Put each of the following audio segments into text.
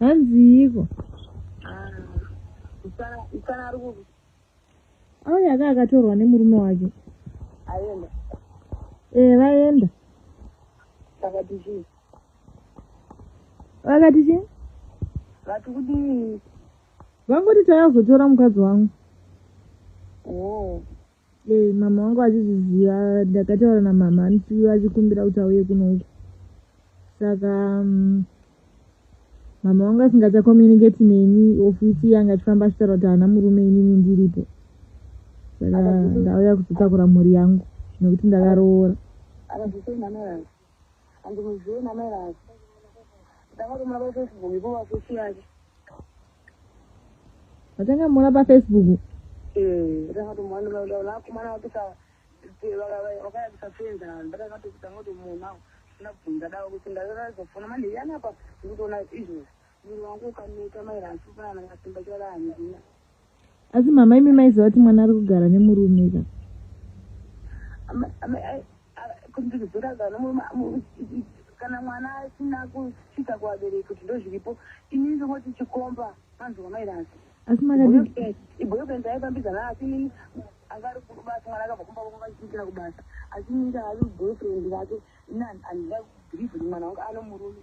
hanziiko auya aka akatorwa nemurume wake aenda ee eh, vaenda vakati chii vakati chii vati kudii vangoti taazotora mukadzi wangu oh. Eh, mama wangu achizviziva ndakataura namama anti achikumbira kuti auye kunouku saka um, mama wangu asingachacommunicate neni ofisi yanga achifamba achitaura kuti haana murume inini ndiripo saka ndauya kuzotakura mhuri yangu nekuti ndakaroora Andimuzive namai vake. Ndakarumura paFacebook ipo pafusi yake. Vakangamura paFacebook. Eh, ndakatomwa ndinoda lakumana wakisa wakayakisa fenza ndakakatokita ngoti muna ndabvunza dawo kuti ndakazofona manje yana pa ndikutoona izvozvi. Munhu wangu ukaneta maira asipana ngasimba chala handina. asi mama imi maiziva kuti mwana ari kugara nemurume ka kana mwana asina kusvika kuvabereki kuti ndozviripo ini ndingoti chikomba manzwa mairasi asi makaibhoyofrend aifambidzana asi inini anga ari kubasa mwana akabva kumba kwavo vachiitira kubasa asi inini ndaavi boyofrend vake ini handida kubhirivhi kuti mwana wangu anomurume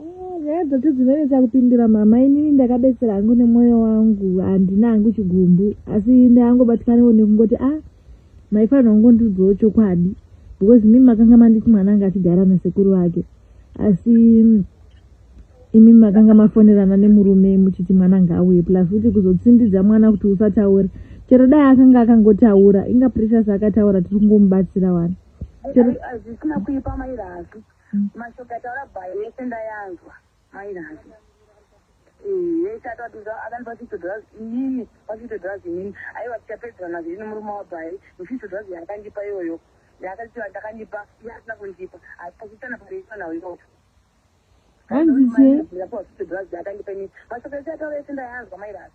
Ah, nyaya dzacho dzinonetsa kupindira mama inini ndakabetsera hangu nemwoyo wangu handina hangu chigumbu asi ndaangobatikanawo nekungoti a ah, maifanira kungondiudzawo chokwadi because mimi makanga manditi mwana anga achigara nasekuru vake asi imi makanga mafonerana nemurume muchiti mwana ngaauye plus kuti kuzotsindidza mwana kuti usataure chero dai akanga akangotaura inga precious akataura tiri kungomubatsira wani chero hazvisina kuipa mairasi Mashoko ataura bhayi yese ndayanzwa mai Nazi eh, yese atatiza akani pasitodras inini pasitodras inini aiwa tichapedzerana zviri nemurume wabhayi musitodras yakandipa iyoyo yaakatiwa ndakandipa yaasina kundipa asi pasitana pareiswa nawo iyoyo hanzi sei yakandipa ini mashoko ese ataura yese ndayanzwa mai Nazi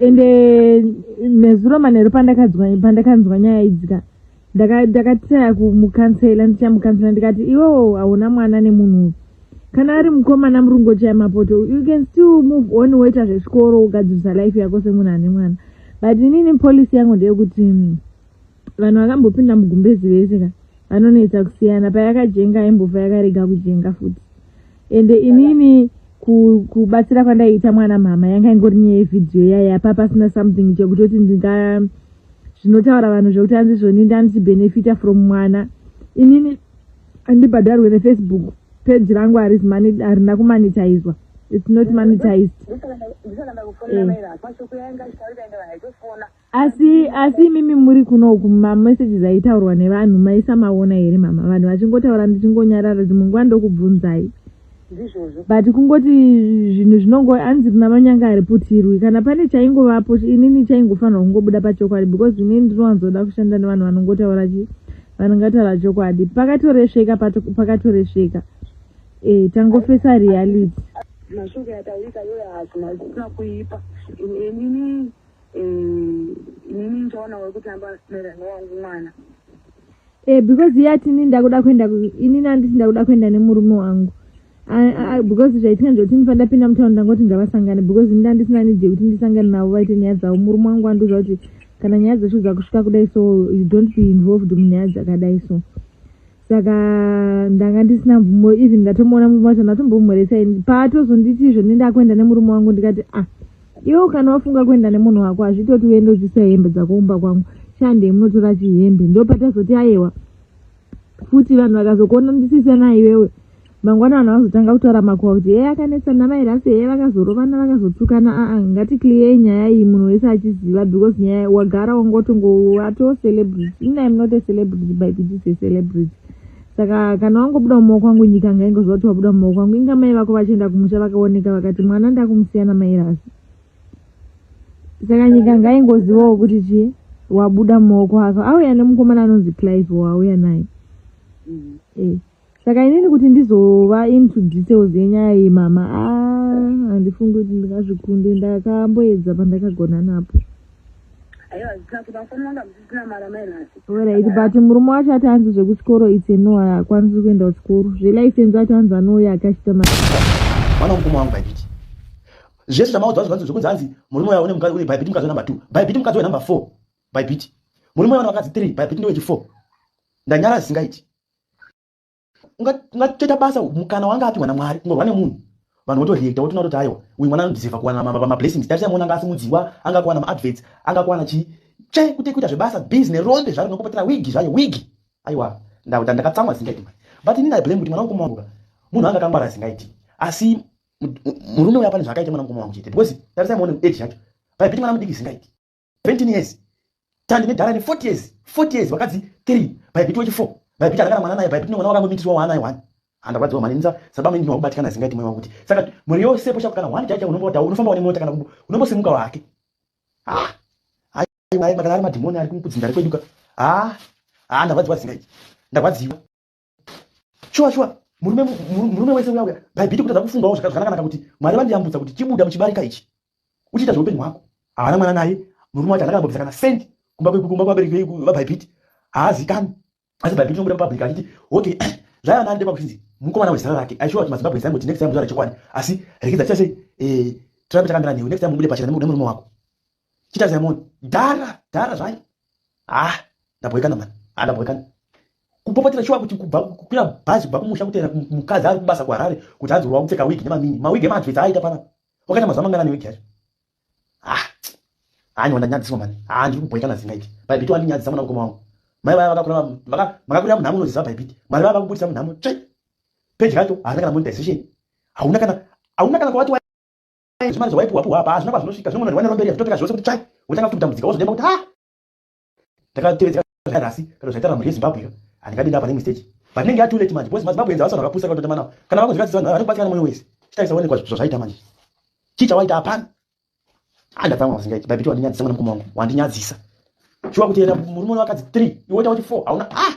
ende nezuro manheru pandakanzwa nyaya idzika ndakataya kumukansela ndichamukansela ndikati iwewo hauna mwana nemunhu uyu kana ari mukomana murungu ochaya mapoto you can still move on woita zvechikoro ugadzirisa life yako semunhu ane mwana but inini polisi yangu ndeyekuti mm, vanhu vakambopinda mugumbezi vese ka vanonetsa kusiyana payakajenga aimbofa yakarega kujenga futi ende inini kubatsira ku kwandaiita mwana mhama yanga ingori nyaya yevhidhiyo yaya pa pasina something chekutoti ndinga zvinotaura vanhu zvekuti anzi zvoni ndandichibenefita from mwana inini andibhadharwe nefacebook peji rangu harina kumanitaizwa it's not monetized eh. asi asi imimi muri kuno uku mamessages aitaurwa nevanhu maisa maona here mama vanhu vachingotaura ndichingonyarara dzimwe nguva ndokubvunzai but kungoti zvinhu zvinongo anzi rina manyanga hariputirwi kana pane chaingovapo inini chaingofanirwa kungobuda pachokwadi because inini ndinowanzoda kushanda nevanhu vanongotaura chi vanongataura chokwadi pakatoresveka pakatoresveka e tangofesa reality mashoko yataurika yoyo hazvina zvisina kuipa inini inini ndichaona wekuti amba neranga wangu mwana eh because iye ati inini ndakuda kuenda inini anditi ndakuda kuenda nemurume wangu because zvaitika ndezvekuti ndifana ndapinda mutaura ndangoti ngavasangane because ini ndandisina nidye kuti ndisangane navo vaite nyaya dzavo murume wangu andiuza kuti kana nyaya dzeshu dzakusvika kudai so you don't be involved munyaya dzakadai so saka ndanga ndisina mvumo even ndatomuona murume wacho ndatombomhoresa ini paatozonditi izvo nende akuenda nemurume wangu ndikati ah iwe kana wafunga kuenda nemunhu wako hazvitoti uende uchisa hembe dzakoumba kwangu shandei munotora chihembe ndo patazoti ayewa futi vanhu vakazokuona ndisisana iwewe mangwana vanhu vanozotanga kutaura makuva kuti heye akanetsa namairasi heye vakazorovana vakazotukana aa ngati clear nyaya iyi munhu wese achiziva because nyaya wagara wangotongowato celebrity ina im not a celebrity by kutis a celebrity saka kana wangobuda mumaoko angu nyika ngaingoziva kuti wabuda mumaoko angu inga mai vako vachienda kumusha vakaoneka vakati mwana ndakumusiya namairasi saka nyika ngaingozivawo kuti chii wabuda mumaoko avo auya nemukomana anonzi clive wauya naye mm. eh. saka inini kuti ndizova into details yenyaya iyi mama ah, handifungi kuti ndingazvikunde ndakamboedza pandakagona napo orit but murume wacho ati anzi zvekuchikoro its no haakwanisi kuenda kuchikoro zvelicense ati anzi anouya akachita ma mwana mukoma wangu bhaibiti zvese zvamaudzwa zvivanzi zvekunzi hanzi murume uya une mukadzi une bhaibiti mukadzi wenumber two bhaibiti mukadzi wenumber four bhaibiti murume uya une vakadzi three bhaibiti ndewechifour ndanyara zisingaiti ungatoita basa mukana wanga apiwa namwari kungorwa nemunhu vanhu votoreacta wotona toti aiwa uyu mwana anodhiziva kuwana mablessings tarisa mona anga asimudziwa anga kuwana maadverts anga kuwana chii che kuti kuita zvebasa busy nerombe zvaro nokupatira wigi zvayo wigi aiwa ndauta ndakatsamwa zingaiti mani but ini ndaiblame kuti mwana mukoma wangu ka munhu anga akangwara zingaiti asi murume uya pane zvaakaita mwana mukoma wangu chete because tarisa mona age yacho paipiti mwana mudiki zingaiti 20 years tandi nedhara ne 40 years 40 years vakadzi 3 bhaibhiti wechi 4 bhaibhiti adakana mwana naye bhaibhiti nemwana wakangomitiswa waanaye one handarwadziwa mani nza saba mimi wakubatikana singaiti mwewa kuti saka mhuri yose posha kana one chacha unombota unofamba une mota kana kubu unombosimuka wake ah ayi ayi makana ari madhimoni ari kumukudzinda ari kweduka ah ah ndarwadziwa singaiti ndarwadziwa shuwa shuwa murume murume wese uya uya bhaibhiti kutadza kufungawo zvakanakanaka kuti mwari vandiyambutsa kuti chibuda muchibarika ichi uchiita zveupenyu hwako haana mwana naye murume wacho anakambobvisa kana sendi kumba kumba kwabereki vabhaibhiti haazikani asi bhaibhiti inobuda mupublic achiti okay zvaiva nani ndema kuchinzi mukomana wezera rake aishuwa kuti mazimbabwe zaimboti next time muzvara chokwadi asi rekidza chase eh, tirambe takambira newe next time mubude pachena nemurume wako chita zaimoni dhara dhara zvayo ha ah, ndabhoikana mani ha ah, ndabhoikana kupopotera shuwa kuti kubva kukwira bhazi kubva kumusha kutera mukadzi ari kubasa kuharare kuti hanzi uriwa kupfeka wigi nemamini mawigi emadvesa aita pana wakaita mazuva mangana newigi yacho ha ah, hanyi wandanyadziswa mani ha ndiri kubhoikana zingaiti bhaibiti wandinyadzisa mwana mukoma wangu mai vaya vakakura makakurira munhamo unoziva bhaibiti mari vaya vakubudisa munhamo tsve peji racho harina kana monetization hauna kana hauna kana kwavati zvimari zvawaipuwa puwa apa hazvina kwazvinosvika zvimwe munhu rwamberi hazvitoteka zvose kuti tsvai wotanga futi kutambudzika wozodemba kuti ha ndakatevedzeka zvairasi kana zvaitara mhuri yezimbabwe ka handingadenda apa neimwe stage but inenge yatoo late manje bcause mazimbabwe enza vasana vakapusa katote manawo kana vamwe zvikatsisa vanhu vanokubatsira nemwoyo wese chitaisa onekwa zvo zvaita manje chii chawaita hapana andatsamwa ah, masingaiti babiti wandinyadzisa mwana mukoma wangu wandinyadzisa shuwa kuti enda murume wakadzi three iwoita kuti four hauna ah